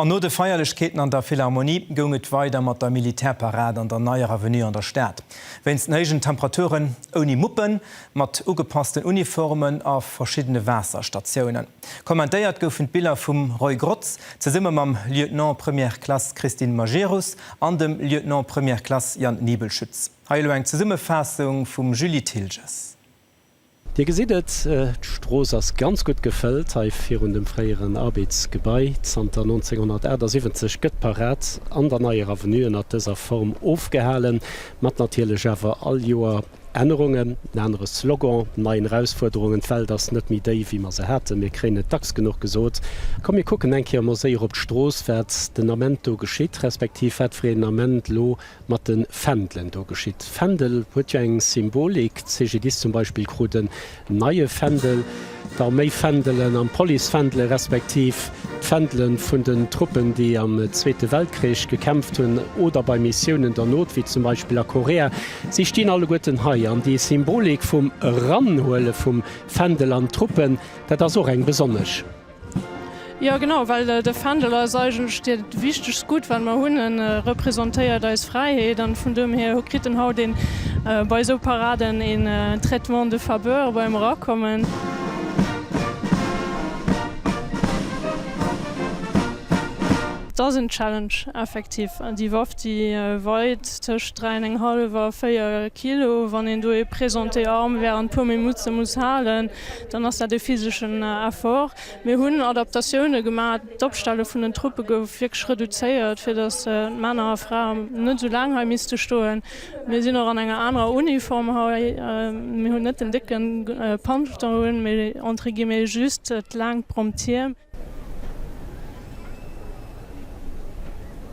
An no de Feierlechkeeten an der Philharmonie goung et weider mat der Militärparad an der Neier Avenue an der Stad. Wéinst den héijen Temperaturen ouni Muppen, mat ugepassten Uniformen a verschiddene Waasserstatiounen. Kommentéiert goufen d'Biller vum Roy Grotz zesumme mam Lieutenant Première Classe Christine Majerus an dem Lieutenant Première Classe Jan Nibelschütz. Hei elo eng Zesummefaassung vum Julie Thilges. Dir gesitt et, d'Strooss ass ganz gutt gefëllt hei virun dem fréieren Arbedsgebai. Zanter 1978 gëtt d'Parad an der Neier Avenue ënnert dëser Form ofgehalen, mat natierlech awer all Joer Ännerungen. En anere Slogan, nei Erausfuerderungen, d'Welt ass net méi déi, wéi mer se haten. Mir kréien et dacks genuch gesot. Komm, mir kucken eng Kéier emol séier op d'Strooss, wat den Ament do geschitt, respektiv wat fir een Ament elo mat den Fändelen do geschitt. Fändel huet jo eng Symbolik, d'CGDIS zum Beispill krut en neie Fändel, d'Arméifändelen an d'Policefändele respektiv d'Fändele vun den Truppen, déi am Zweete Weltkrich gekämpft hunn oder bei Missiounen der Not, wéi zum Beispill a Korea, si stinn alleguerten hei. An déi Symbolik vum Eranhuele vum Fändel an d'Truppen, dat ass och eng besonnesch. Jo genau, well de Fändel ass eigentlech dat wichtegst Gutt wat mer hunn. E representéiert eis Fräiheet an vun dem hier kritt en haut een bei esou Paraden een Traitement de faveur beim Erakommen. Et ass en Challenge effektiv. Déi Waff déi weit tëscht 3 an eng hallef a 4 Kilo, wann een do ee Prise en T-Arm während puer Minutte muss halen, dann ass dat e physeschen Effort. Mir hunn Adaptatioune gemaach, d'Opstelle vun den Truppe gouf wierklech reduzéiert, fir datt Männer a Fraen net esou laang hei misste stoen. Mir sinn och an enger anerer Uniform hei. Mir hunn net den décken Pantalon un, mee entre guillemets just d'laangt Promptier.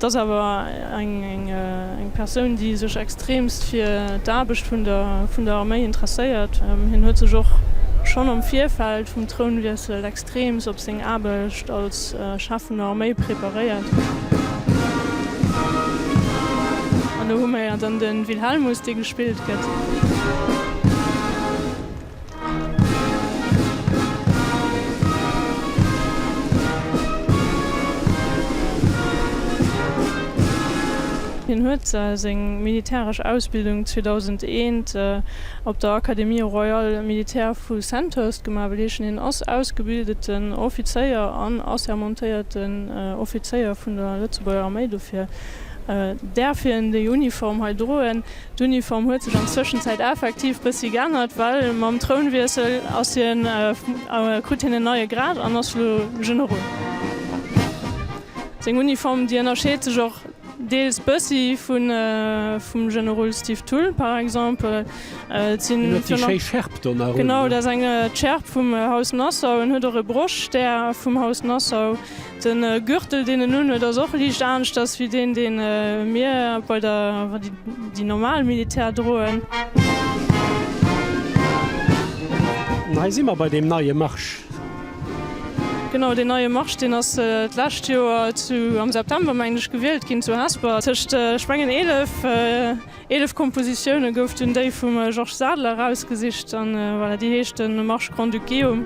Et ass awer eng Persoun, déi sech extreemst fir d'Aarbecht vun der Arméi interesséiert. Hien huet sech och schonn am Virfeld vum Trounwiessel extreems op seng Aarbecht als Chef vun der Arméi preparéiert. An do hu mer jo dann de Wilhelmus, dee gespillt gëtt. Hien huet seng militäresch Ausbildung 2001 op der Académie royale militaire vu Sandhurst gemaach, wëll heeschen hien ass ausgebildeten Offizéier an assermentéierten Offizéier vun der Lëtzebuerger Arméi. Dofir däerf hien déi Uniform hei droen. D'Uniform huet sech an Zwëschenzäit effektiv bëssi geännert, well mam Trounwiessel ass hien, krut hien en neie Grad an ass elo Generol. Seng Uniform, déi ënnerscheet sech och deels bëssi vum Generol Steve Thull par exemple. Et sinn. Hien huet déi schéi Schärp do nach un. Genau, dat ass eng, d'Schärp vum Haus Nassau. En huet och e Brochstär vum Haus Nassau. Den Gürtel deen en unhuet ass och liicht aaneschters wéi deen deen mir bei der déi normal Militär droen. An hei si mer bei deem neie Marsch. Genau, deen neie Marsch deen ass d'lescht Joer zu am September mengen ech gewielt ginn zu Hesper tëscht ech mengen 11. Eelef Kompositioune gouf dunn déi vum Georges Sadler erausgesicht, an voilà, déi heescht de Marsch Grand-Duceum.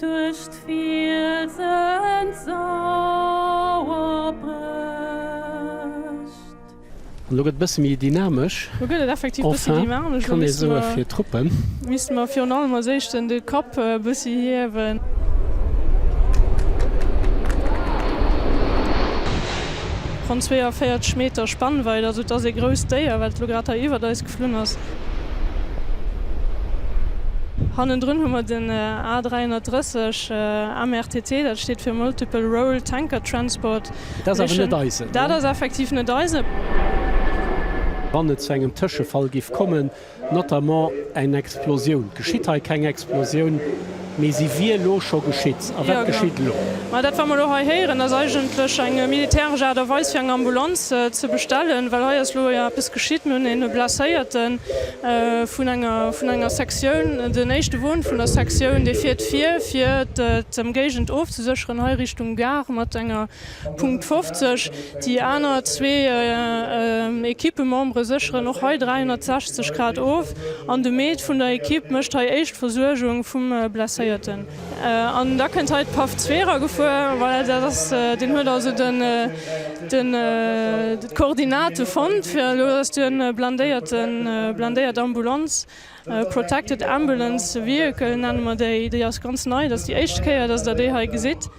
Duerch d'Fielsen sauer brécht. An lo gëtt et bësse méi dynamesch. Lo gëtt et effektiv bësse dynamesch. Kann ee soe fir Truppen. Misste mer virun allem als éischten de Kapp e bëssi hiewen. Ronn 42 Meter Spannweit, also et ass ee grousst Déier, wat elo grad hei iwwert eis. Flunn ass. Hannendrun hu mer den A 330 MRTT, dat steet fir Multiple Role Tanker Transport. Dat ass awer net eisen. Dat ass effektiv net eisen. Wann et zu engem Tëschefall giff kommen, notamment en Explosioun, geschitt hei keng Explosioun, Mee si wier elo scho geschitt. A wat geschitt elo? Ma dat, wat mer elo hei héieren, ass eigentlech eng militäresch Aart a Weis, fir eng Ambulanz ze bestellen, well hei ass elo jo eppes geschitt. Mir hunn e Blesséierte vun enger Sektioun, den éischte Won vun der Sektioun, dee fiert vir, fir d'Ëmgéigend ofzesécheren, hei Richtung Gare mat enger Punkt 50, Déi aner zwee Ekippemembere sécheren och hei 360 Grad of an de Med vun der Ekipp mécht hei éischt Versuergung vum Blesséierten. An da kënnt hei d'Paff Zwerer gefuer, voilà, dat ass, deen huet also d'Koordinate fonnt fir elo, dass do e blindéierten, blindéiert Ambulanz, protected ambulance vehicle nenne mer déi, déi ass ganz nei, dat ass déi éischte Kéier, dass Der déi hei gesitt.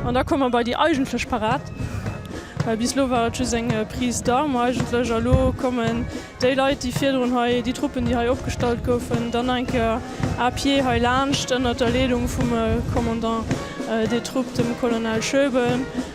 An da komme mer bei déi eigentlech Parad, well bis elo war et just eng Prise d'armes eigentlech. A lo kommen déi Leit, déi virdrun hei, déi Truppen, déi hei opgestallt goufen, dann nach eng Kéier à pied heilaanscht, ënnert der Leedung vum Commandant des troupes, dem Colonel Schöbel.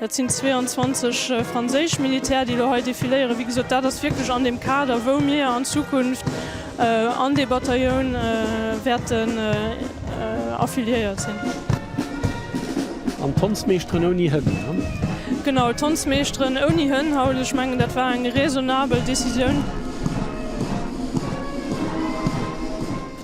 Dat sinn 22 franséisch Militär, déi elo hei defiléieren. Wéi gesot, dat ass wierklech an deem Kader, wou mir an Zukunft an dee Batailloun wäerten affiliéiert sinn. An d'Tanzmeeschteren ouni Hënn, ne? Genau, d'Tanzmeeschteren ouni Hënn haut. Ech mengen, dat war eng raisonnabel Décisioun.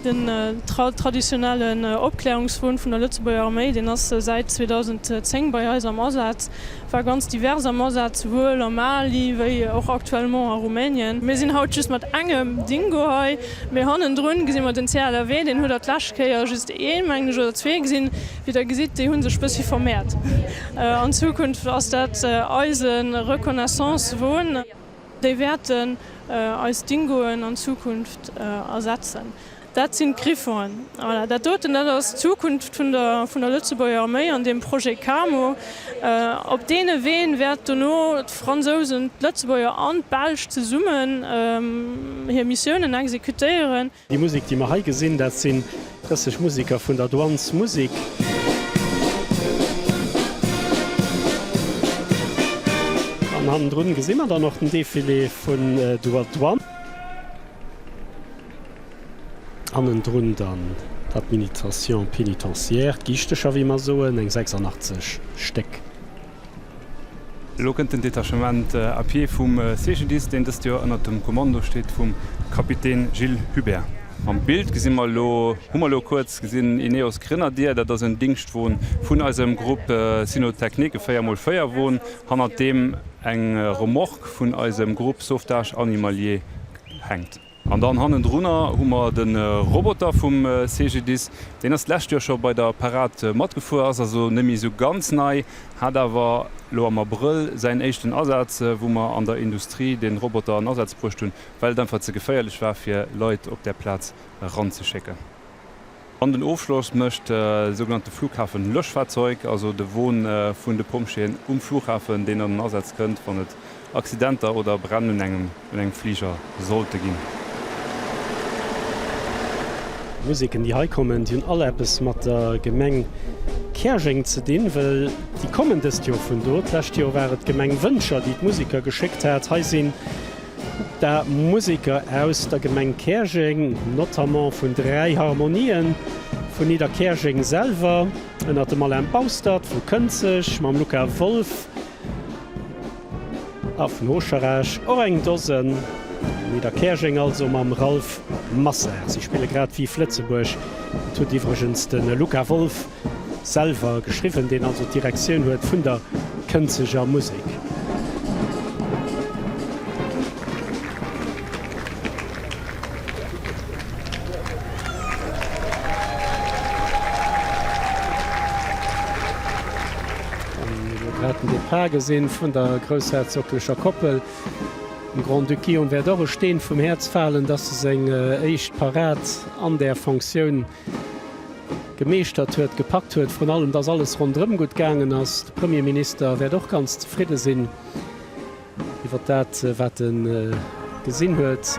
Den traditionellen Opklärungswon vun der Lëtzebuerger Arméi, deen ass säit 2010 bei eis am Asaz, war ganz divers am Asaz, souwuel am Mali wéi och actuellement a Rumänien. Mir sinn haut just mat engem Dingo hei, mee hannendrun gesi mer den CLRW, deen huet der d'lescht Kéier just ee mengen ech oder zwee gesinn. Wéi der gesitt, déi hu sech bëssi vermeert. An Zukunft ass dat eise Reconnaissance-Won. Déi wäerten eis Dingoen an Zukunft ersetzen. Dat sinn d'Griffonen. Voilà, dat doten, dat ass d'Zukunft vun der, vun der Lëtzebuerger Arméi an deem Projet Camo. Op deene Ween wäert dono d'Fransousen, d'Lëtzebuerger an d'Belsch zesummen hir Missiounen exekutéieren. Déi Musik, déi mer hei gesinn, dat sinn dëseg Musiker vun der Douane's Musik. An hannendrun gesi mer dann och den Defilé vun duer Douane. Hannendrun dann d'Adminitraion pénitentiaire, d'Giichtecher, wéi mer soen, eng 86 Stéck. Elo kënnt den Detachement à pied vum CGDIS, deen dëst Joer ënnert dem Kommando steet vum Kapitän Gilles Hubert. Am Bild gesi mer elo, hu mer elo kuerz gesinn, Ineos Grenadier. Dat ass en Dingschtwon vun eisem Grupp Cynotechnik, e 4 mol 4 Won, hannert deem eng Remorque vun eisem Grupp Sauvetage Animalier hänkt. An dann hannendrunner hu mer de Roboter vum CGDIS. Deen ass d'lescht Joer scho bei der Parad matgefuer, ass also net méi esou ganz nei, hat awer elo am Abrëll säin éischten Asaz, wou mer an der Industrie dee Roboter an Asaz bruecht hunn, well et einfach ze geféierlech war, fir Leit op där Plaz eranzeschécken. An den Ofschloss mécht de sougenannte Flughafenlöschfahrzeug, also de Won vun de Pompjeeën um Flughafen, deen an den Asaz kënnt, wann et Accidenter oder Bränn un engem Fliger sollte ginn. D'Musiken, déi hei kommen, déi hunn all eppes mat der Gemeng Käerjeng ze dinn, well déi kommen dëst Joer vun do. D'lescht Joer war et d'Gemeng Wëncher, déi d'Musiker geschéckt hat. Hei sinn. Da Museker aus der Gemeng Käerjeng, notamment vun dräi Harmonien, vun Nidderkäerjeng selwer, ënner dem Alain Baustert, vu Kënzeg mam Luca Wolf a vun Oscherech och eng Dosen, Nidderkäerjeng also mam Ralph Masser. Si spille grad Vive Lëtzebuerg, dat huet iwwregens de Luca Wolf Selwer geschriwwen, deen also d'Direktioun huet vun der Kënzeger Musek. An elo grad den Départ gesinn vun der groussherzoglecher Koppel. Dem Grand-Duc Guillaume wäert och e Steen vum Häerz falen, dass e seng éischt Parad an där Fonctioun gemeeschtert huet, gepackt huet, vrun allem dass alles rondrëm gutt gaangen ass. De Premierminister wäert och ganz zefridde sinn iwwert dat wat e gesinn huet.